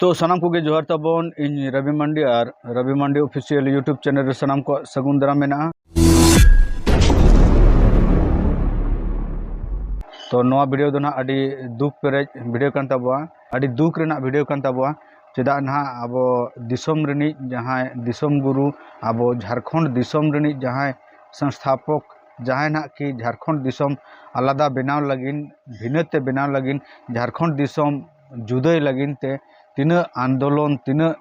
ᱛᱚ ᱥᱟᱱᱟᱢ ᱠᱚᱜᱮ ᱡᱚᱦᱟᱨ ᱛᱟᱵᱚᱱ ᱤᱧ ᱨᱚᱵᱤ ᱢᱟᱱᱰᱤ ᱟᱨ Robi Mandi official YouTube channel ᱨᱮ ᱥᱟᱱᱟᱢ ᱠᱚᱣᱟᱜ ᱥᱟᱹᱜᱩᱱ ᱫᱟᱨᱟᱢ ᱢᱮᱱᱟᱜᱼᱟ ᱛᱚ ᱱᱚᱣᱟ ᱵᱷᱤᱰᱤᱭᱳ ᱫᱚ ᱱᱟᱦᱟᱜ ᱟᱹᱰᱤ ᱫᱩᱠ ᱯᱮᱨᱮᱡ ᱵᱷᱤᱰᱤᱭᱳ ᱠᱟᱱ ᱛᱟᱵᱚᱣᱟ ᱟᱹᱰᱤ ᱫᱩᱠ ᱨᱮᱱᱟᱜ ᱵᱷᱤᱰᱤᱭᱳ ᱠᱟᱱ ᱛᱟᱵᱚᱣᱟ ᱪᱮᱫᱟᱜ ᱱᱟᱦᱟᱜ ᱟᱵᱚ ᱫᱤᱥᱚᱢ ᱨᱤᱱᱤᱡ ᱡᱟᱦᱟᱸᱭ ᱫᱤᱥᱚᱢ ᱜᱩᱨᱩ ᱟᱵᱚ ᱡᱷᱟᱲᱠᱷᱚᱸᱰ ᱫᱤᱥᱚᱢ ᱨᱤᱱᱤᱡ ᱡᱟᱦᱟᱸᱭ ᱥᱚᱝᱥᱛᱷᱟᱯᱚᱠ ᱡᱟᱦᱟᱸᱭ ᱱᱟᱦᱟᱜ ᱠᱤ ᱡᱷᱟᱲᱠᱷᱚᱸᱰ ᱫᱤᱥᱚᱢ ᱟᱞᱟᱫᱟ ᱵᱮᱱᱟᱣ ᱞᱟᱹᱜᱤᱫ ᱵᱷᱤᱱᱟᱹᱛᱮ ᱵᱮᱱᱟᱣ ᱞᱟᱹᱜᱤᱫ ᱡᱷᱟᱲᱠᱷᱚᱸᱰ ᱫᱤᱥᱚᱢ ᱡᱩᱫᱟᱹᱭ ᱞᱟᱹᱜᱤᱫ ᱛᱮ ᱛᱤᱱᱟᱹᱜ ᱟᱱᱫᱳᱞᱚᱱ ᱛᱤᱱᱟᱹᱜ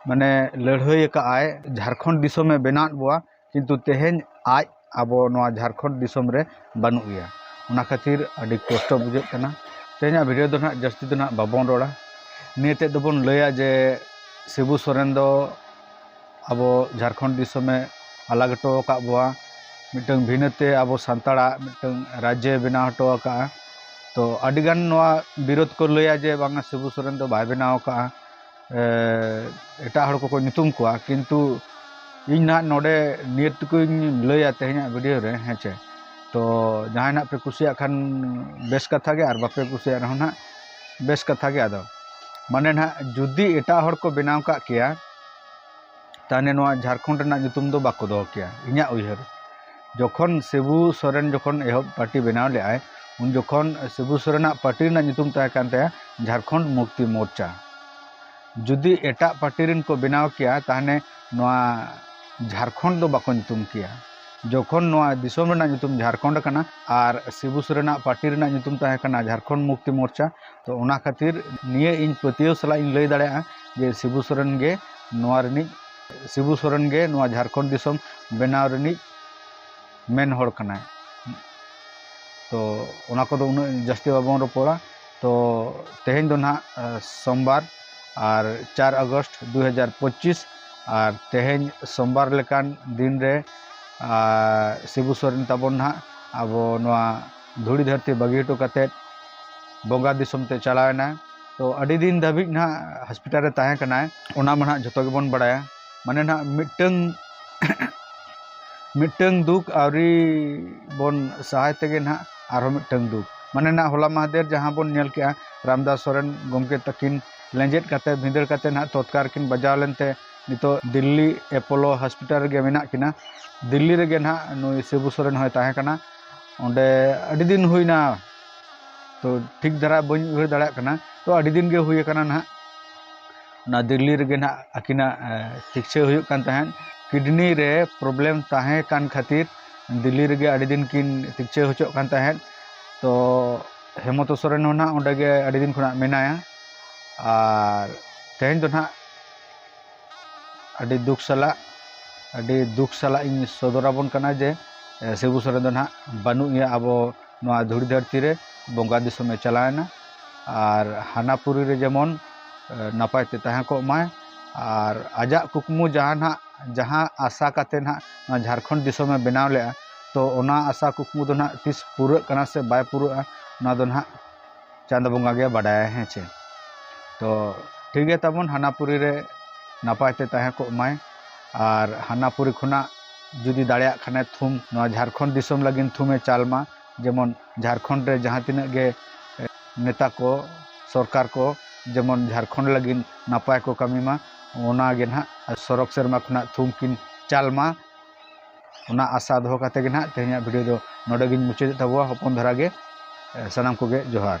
ᱢᱟᱱᱮ ᱞᱟᱹᱲᱦᱟᱹᱭ ᱟᱠᱟᱫ ᱟᱭ ᱡᱷᱟᱲᱠᱷᱚᱸᱰ ᱫᱤᱥᱚᱢᱮ ᱵᱮᱱᱟᱣᱟᱫ ᱵᱚᱱᱟ ᱠᱤᱱᱛᱩ ᱛᱮᱦᱮᱧ ᱟᱡ ᱟᱵᱚ ᱱᱚᱣᱟ ᱡᱷᱟᱲᱠᱷᱚᱸᱰ ᱫᱤᱥᱚᱢ ᱨᱮ ᱵᱟᱹᱱᱩᱜ ᱮᱭᱟ ᱚᱱᱟ ᱠᱷᱟᱹᱛᱤᱨ ᱟᱹᱰᱤ ᱠᱚᱥᱴᱚ ᱵᱩᱡᱷᱟᱹᱜ ᱠᱟᱱᱟ ᱛᱮᱦᱮᱧᱟᱜ ᱵᱷᱤᱰᱭᱳ ᱫᱚ ᱦᱟᱸᱜ ᱡᱟᱹᱥᱛᱤ ᱫᱚ ᱦᱟᱸᱜ ᱵᱟᱵᱚᱱ ᱨᱚᱲᱟ ᱱᱤᱭᱟᱹ ᱛᱮᱫ ᱫᱚᱵᱚᱱ ᱞᱟᱹᱭᱟ ᱡᱮ ᱥᱤᱵᱩ ᱥᱚᱨᱮᱱ ᱫᱚ ᱟᱵᱚ ᱡᱷᱟᱲᱠᱷᱚᱸᱰ ᱫᱤᱥᱚᱢᱮ ᱟᱞᱟᱜᱽ ᱦᱚᱴᱚ ᱟᱠᱟᱫ ᱵᱚᱱᱟ ᱢᱤᱫᱴᱟᱹᱝ ᱵᱷᱤᱱᱟᱹ ᱛᱮ ᱟᱵᱚ ᱥᱟᱱᱛᱟᱲᱟᱜ ᱢᱤᱫᱴᱟᱹᱝ ᱨᱟᱡᱽᱡᱚᱭ ᱵᱮᱱᱟᱣ ᱦᱚᱴᱚ ᱟᱠᱟᱫᱼᱟ ᱛᱚ ᱟᱹᱰᱤ ᱜᱟᱱ ᱱᱚᱣᱟ ᱵᱤᱨᱳᱫᱷ ᱠᱚ ᱞᱟᱹᱭᱟ ᱡᱮ ᱵᱟᱝᱟ ᱥᱤᱵᱩ ᱥᱚᱨᱮᱱ ᱫᱚ ᱵᱟᱭ ᱵᱮᱱᱟᱣ ᱟᱠᱟᱫᱼᱟ ᱮᱴᱟᱜ ᱦᱚᱲ ᱠᱚᱠᱚ ᱧᱩᱛᱩᱢ ᱠᱚᱣᱟ ᱠᱤᱱᱛᱩ ᱤᱧ ᱱᱟᱦᱟᱜ ᱱᱚᱰᱮ ᱱᱤᱭᱟᱹ ᱴᱩᱠᱩᱧ ᱞᱟᱹᱭᱟ ᱛᱮᱦᱮᱧᱟᱜ ᱵᱷᱤᱰᱤᱭᱳ ᱨᱮ ᱦᱮᱸ ᱪᱮ ᱛᱚ ᱡᱟᱦᱟᱸᱭ ᱱᱟᱦᱟᱜ ᱯᱮ ᱠᱩᱥᱤᱭᱟᱜ ᱠᱷᱟᱱ ᱵᱮᱥ ᱠᱟᱛᱷᱟ ᱜᱮ ᱟᱨ ᱵᱟᱯᱮ ᱠᱩᱥᱤᱭᱟᱜ ᱨᱮᱦᱚᱸ ᱱᱟᱦᱟᱜ ᱵᱮᱥ ᱠᱟᱛᱷᱟ ᱜᱮ ᱟᱫᱚ ᱢᱟᱱᱮ ᱱᱟᱦᱟᱜ ᱡᱩᱫᱤ ᱮᱴᱟᱜ ᱦᱚᱲ ᱠᱚ ᱵᱮᱱᱟᱣ ᱠᱟᱜ ᱠᱮᱭᱟ ᱛᱟᱦᱚᱞᱮ ᱱᱚᱣᱟ ᱡᱷᱟᱲᱠᱷᱚᱸᱰ ᱨᱮᱱᱟᱜ ᱧᱩᱛᱩᱢ ᱫᱚ ᱵᱟᱠᱚ ᱫᱚᱦᱚ ᱠᱮᱭᱟ ᱤᱧᱟᱹᱜ ᱩᱭᱦᱟᱹᱨ ᱡᱚᱠᱷᱚᱱ ᱥᱤᱵᱩ ᱥᱚᱨᱮᱱ ᱡᱚᱠᱷᱚᱱ ᱮᱦᱚᱵ ᱯᱟᱨᱴᱤ ᱵᱮᱱᱟᱣ ᱞᱮᱫᱟᱭ ᱩᱱ ᱡᱚᱠᱷᱚᱱ ᱥᱤᱵᱩ ᱥᱚᱨᱮᱱ ᱟᱜ ᱯᱟᱨᱴᱤ ᱨᱮᱱᱟᱜ ᱧᱩᱛᱩᱢ ᱛᱟᱦᱮᱸ ᱠᱟᱱ ᱛᱟᱭᱟ ᱡᱷᱟᱲᱠᱷᱚᱸᱰ ᱢᱩᱠᱛᱤ ᱢᱳᱨᱪᱟ ᱡᱩᱫᱤ ᱮᱴᱟᱜ ᱯᱟᱨᱴᱤ ᱨᱮᱱ ᱠᱚ ᱵᱮᱱᱟᱣ ᱠᱮᱭᱟ ᱛᱟᱦᱚᱞᱮ ᱱᱚᱣᱟ ᱡᱷᱟᱲᱠᱷᱚᱸᱰ ᱫᱚ ᱵᱟᱠᱚ ᱧᱩᱛᱩᱢ ᱠᱮᱭᱟ ᱡᱚᱠᱷᱚᱱ ᱱᱚᱣᱟ ᱫᱤᱥᱚᱢ ᱨᱮᱱᱟᱜ ᱧᱩᱛᱩᱢ ᱡᱷᱟᱲᱠᱷᱚᱸᱰ ᱠᱟᱱᱟ ᱟᱨ ᱥᱤᱵᱩ ᱥᱚᱨᱮᱱ ᱟᱜ ᱯᱟᱨᱴᱤ ᱨᱮᱱᱟᱜ ᱧᱩᱛᱩᱢ ᱛᱟᱦᱮᱸ ᱠᱟᱱᱟ ᱡᱷᱟᱲᱠᱷᱚᱸᱰ ᱢᱩᱠᱛᱤ ᱢᱳᱨᱪᱟ ᱛᱚ ᱚᱱᱟ ᱠᱷᱟᱹᱛᱤᱨ ᱱᱤᱭᱟᱹ ᱤᱧ ᱯᱟᱹᱛᱭᱟᱹᱣ ᱥᱟᱞᱟᱜ ᱤᱧ ᱞᱟᱹᱭ ᱫᱟᱲᱮᱭᱟᱜᱼᱟ ᱡᱮ ᱥᱤᱵᱩ ᱥᱚᱨᱮᱱ ᱜᱮ ᱱᱚᱣᱟ ᱨᱤᱱᱤᱡ ᱥᱤᱵᱩ ᱥᱚᱨᱮᱱ ᱜᱮ ᱱᱚᱣᱟ ᱡᱷᱟᱲᱠᱷᱚᱸᱰ ᱫᱤᱥᱚᱢ ᱵᱮᱱᱟᱣ ᱨᱤᱱᱤᱡ ᱢᱮᱱ ᱦᱚᱲ ᱠᱟᱱᱟᱭ ᱛᱚ ᱚᱱᱟ ᱠᱚᱫᱚ ᱩᱱᱟᱹᱜ ᱡᱟᱹᱥᱛᱤ ᱵᱟᱵᱚᱱ ᱨᱚᱯᱚᱲᱟ ᱛᱚ ᱛᱮᱦᱮᱧ ᱫᱚ ᱱᱟᱦᱟᱜ ᱥᱳᱢᱵᱟᱨ ᱟᱨ ᱪᱟᱨ ᱟᱜᱚᱥᱴ ᱫᱩ ᱦᱟᱡᱟᱨ ᱯᱚᱸᱪᱤᱥ ᱟᱨ ᱛᱮᱦᱮᱧ ᱥᱳᱢᱵᱟᱨ ᱞᱮᱠᱟᱱ ᱫᱤᱱ ᱨᱮ ᱥᱤᱵᱩ ᱥᱚᱨᱮᱱ ᱛᱟᱵᱚᱱ ᱱᱟᱦᱟᱜ ᱟᱵᱚ ᱱᱚᱣᱟ ᱫᱷᱩᱲᱤ ᱫᱷᱟᱹᱨᱛᱤ ᱵᱟᱹᱜᱤ ᱦᱚᱴᱚ ᱠᱟᱛᱮᱫ ᱵᱚᱸᱜᱟ ᱫᱤᱥᱚᱢ ᱛᱮ ᱪᱟᱞᱟᱣ ᱮᱱᱟᱭ ᱛᱚ ᱟᱹᱰᱤ ᱫᱤᱱ ᱫᱷᱟᱹᱵᱤᱡ ᱱᱟᱦᱟᱜ ᱦᱚᱥᱯᱤᱴᱟᱞ ᱨᱮ ᱛᱟᱦᱮᱸ ᱠᱟᱱᱟᱭ ᱚᱱᱟ ᱢᱟ ᱱᱟᱦᱟᱜ ᱡᱚᱛᱚ ᱜᱮᱵᱚᱱ ᱵᱟᱲᱟᱭᱟ ᱢᱟᱱᱮ ᱱᱟᱦᱟᱜ ᱢᱤᱫᱴᱟᱹᱝ ᱢᱤᱫᱴᱟᱹᱝ ᱫᱩᱠ ᱟᱹᱣᱨᱤ ᱵᱚᱱ ᱥᱟᱦᱟᱭ ᱛᱮᱜᱮ ᱱᱟᱦᱟᱜ ᱟᱨᱦᱚᱸ ᱢᱤᱫᱴᱟᱹᱝ ᱫᱩᱠ ᱢᱟᱱᱮ ᱱᱟᱦᱟᱜ ᱦᱚᱞᱟ ᱢᱟᱦᱫᱮᱨ ᱡᱟᱦᱟᱸ ᱵᱚᱱ ᱧᱮᱞ ᱠᱮᱜᱼᱟ ᱨᱟᱢᱫᱟᱥ ᱥᱚᱨᱮᱱ ᱜᱚᱢᱠᱮ ᱛᱟᱹᱠᱤᱱ ᱞᱮᱸᱡᱮᱫ ᱠᱟᱛᱮ ᱵᱷᱤᱸᱫᱟᱹᱲ ᱠᱟᱛᱮ ᱱᱟᱦᱟᱜ ᱛᱚᱛᱠᱟᱨ ᱠᱤᱱ ᱵᱟᱡᱟᱣ ᱞᱮᱱᱛᱮ ᱱᱤᱛᱚᱜ ᱫᱤᱞᱞᱤ ᱮᱯᱳᱞᱳ ᱦᱚᱥᱯᱤᱴᱟᱞ ᱨᱮᱜᱮ ᱢᱮᱱᱟᱜ ᱠᱤᱱᱟ ᱫᱤᱞᱞᱤ ᱨᱮᱜᱮ ᱱᱟᱦᱟᱜ ᱱᱩᱭ ᱥᱤᱵᱩ ᱥᱚᱨᱮᱱ ᱦᱚᱸᱭ ᱛᱟᱦᱮᱸ ᱠᱟᱱᱟ ᱚᱸᱰᱮ ᱟᱹᱰᱤ ᱫᱤᱱ ᱦᱩᱭᱱᱟ ᱛᱚ ᱴᱷᱤᱠ ᱫᱷᱟᱨᱟ ᱵᱟᱹᱧ ᱩᱭᱦᱟᱹᱨ ᱫᱟᱲᱮᱭᱟᱜ ᱠᱟᱱᱟ ᱛᱚ ᱟᱹᱰᱤ ᱫᱤᱱ ᱜᱮ ᱦᱩᱭ ᱟᱠᱟᱱᱟ ᱱᱟᱦᱟᱜ ᱚᱱᱟ ᱫᱤᱞᱞᱤ ᱨᱮᱜᱮ ᱱᱟᱦᱟᱜ ᱟᱹᱠᱤᱱᱟᱜ ᱪᱤᱠᱤᱛᱥᱟ ᱦᱩᱭᱩᱜ ᱠᱟᱱ ᱛᱟᱦᱮᱸᱫ ᱠᱤᱰᱱᱤ ᱨᱮ ᱯᱨᱚᱵᱞᱮᱢ ᱛᱟᱦᱮᱸ ᱠᱟᱱ ᱠᱷᱟᱹᱛᱤᱨ ᱫᱤᱞᱞᱤ ᱨᱮᱜᱮ ᱟᱹᱰᱤ ᱫᱤᱱ ᱠᱤᱱ ᱪᱤᱠᱤᱛᱥᱟ ᱦᱚᱪᱚᱜ ᱠᱟᱱ ᱛᱟᱦᱮᱸᱫ ᱛᱚ ᱦᱮᱢᱚᱱᱛᱚ ᱥᱚᱨᱮᱱ ᱦᱚᱸ ᱱᱟᱦᱟᱜ ᱚᱸᱰᱮ ᱜᱮ ᱟᱹᱰᱤ ᱫᱤᱱ ᱠᱷᱚᱱᱟᱜ ᱢᱮᱱᱟᱭᱟ ᱟᱨ ᱛᱮᱦᱮᱧ ᱫᱚ ᱱᱟᱦᱟᱜ ᱟᱹᱰᱤ ᱫᱩᱠ ᱥᱟᱞᱟᱜ ᱟᱹᱰᱤ ᱫᱩᱠ ᱥᱟᱞᱟᱜ ᱤᱧ ᱥᱚᱫᱚᱨ ᱟᱵᱚᱱ ᱠᱟᱱᱟ ᱡᱮ ᱥᱤᱵᱩ ᱥᱚᱨᱮᱱ ᱫᱚ ᱱᱟᱦᱟᱜ ᱵᱟᱹᱱᱩᱜ ᱮᱭᱟ ᱟᱵᱚ ᱱᱚᱣᱟ ᱫᱷᱩᱲᱤ ᱫᱷᱟᱹᱨᱛᱤ ᱨᱮ ᱵᱚᱸᱜᱟ ᱫᱤᱥᱚᱢᱮ ᱪᱟᱞᱟᱣᱮᱱᱟ ᱟᱨ ᱦᱟᱱᱟ ᱯᱩᱨᱤ ᱨᱮ ᱡᱮᱢᱚᱱ ᱱᱟᱯᱟᱭ ᱛᱮ ᱛᱟᱦᱮᱸ ᱠᱚᱜ ᱢᱟᱭ ᱟᱨ ᱟᱡᱟᱜ ᱠᱩᱠᱢᱩ ᱡᱟᱦᱟᱸ ᱱᱟᱦᱟᱜ ᱡᱟᱦᱟᱸ ᱟᱥᱟ ᱠᱟᱛᱮᱫ ᱱᱟᱦᱟᱜ ᱱᱚᱣᱟ ᱡᱷᱟᱲᱠᱷᱚᱸᱰ ᱫᱤᱥᱚᱢᱮ ᱵᱮᱱᱟᱣ ᱞᱮᱫᱼᱟ ᱛᱳ ᱚᱱᱟ ᱟᱥᱟ ᱠᱩᱠᱢᱩ ᱫᱚ ᱱᱟᱦᱟᱜ ᱛᱤᱥ ᱯᱩᱨᱟᱹᱜ ᱠᱟᱱᱟ ᱥᱮ ᱵᱟᱭ ᱯᱩᱨᱟᱹᱜᱼᱟ ᱚᱱᱟ ᱫᱚ ᱱᱟᱦᱟᱜ ᱪᱟᱸᱫᱚ ᱵᱚᱸᱜᱟ ᱜᱮ ᱵᱟᱰᱟᱭᱟ ᱦᱮᱸ ᱪᱮ ᱛᱚ ᱴᱷᱤᱠ ᱜᱮᱭᱟ ᱛᱟᱵᱚᱱ ᱦᱟᱱᱟᱯᱩᱨᱤ ᱨᱮ ᱱᱟᱯᱟᱭ ᱛᱮ ᱛᱟᱦᱮᱸ ᱠᱚᱜ ᱢᱟᱭ ᱟᱨ ᱦᱟᱱᱟᱯᱩᱨᱤ ᱠᱷᱚᱱᱟᱜ ᱡᱩᱫᱤ ᱫᱟᱲᱮᱭᱟᱜ ᱠᱷᱟᱱᱮ ᱛᱷᱩᱢ ᱱᱚᱣᱟ ᱡᱷᱟᱲᱠᱷᱚᱸᱰ ᱫᱤᱥᱚᱢ ᱞᱟᱹᱜᱤᱫ ᱛᱷᱩᱢᱮ ᱪᱟᱞ ᱢᱟ ᱡᱮᱢᱚᱱ ᱡᱷᱟᱲᱠᱷᱚᱸᱰ ᱨᱮ ᱡᱟᱦᱟᱸ ᱛᱤᱱᱟᱹᱜ ᱜᱮ ᱱᱮᱛᱟ ᱠᱚ ᱥᱚᱨᱠᱟᱨ ᱠᱚ ᱡᱮᱢᱚᱱ ᱡᱷᱟᱲᱠᱷᱚᱸᱰ ᱞᱟᱹᱜᱤᱫ ᱱᱟᱯᱟᱭ ᱠᱚ ᱠᱟᱹᱢᱤ ᱢᱟ ᱚᱱᱟᱜᱮ ᱱᱟᱦᱟᱜ ᱥᱚᱲᱚᱠ ᱥᱮᱨᱢᱟ ᱠᱷᱚᱱᱟᱜ ᱛᱷᱩᱢ ᱠᱤᱱ ᱪᱟᱞ ᱢᱟ ᱚᱱᱟ ᱟᱥᱟ ᱫᱚᱦᱚ ᱠᱟᱛᱮ ᱜᱮ ᱱᱟᱦᱟᱜ ᱛᱮᱦᱮᱧᱟᱜ ᱵᱷᱤᱰᱤᱭᱳ ᱫᱚ ᱱᱚᱰᱮ ᱜᱮᱧ ᱢᱩᱪᱟᱹᱫᱮᱜ ᱛᱟᱵᱚᱣᱟ ᱦᱚᱯᱚᱱ ᱫᱷᱟᱨᱟ ᱜᱮ ᱥᱟᱱᱟᱢ ᱠᱚᱜᱮ ᱡᱚᱦᱟᱨ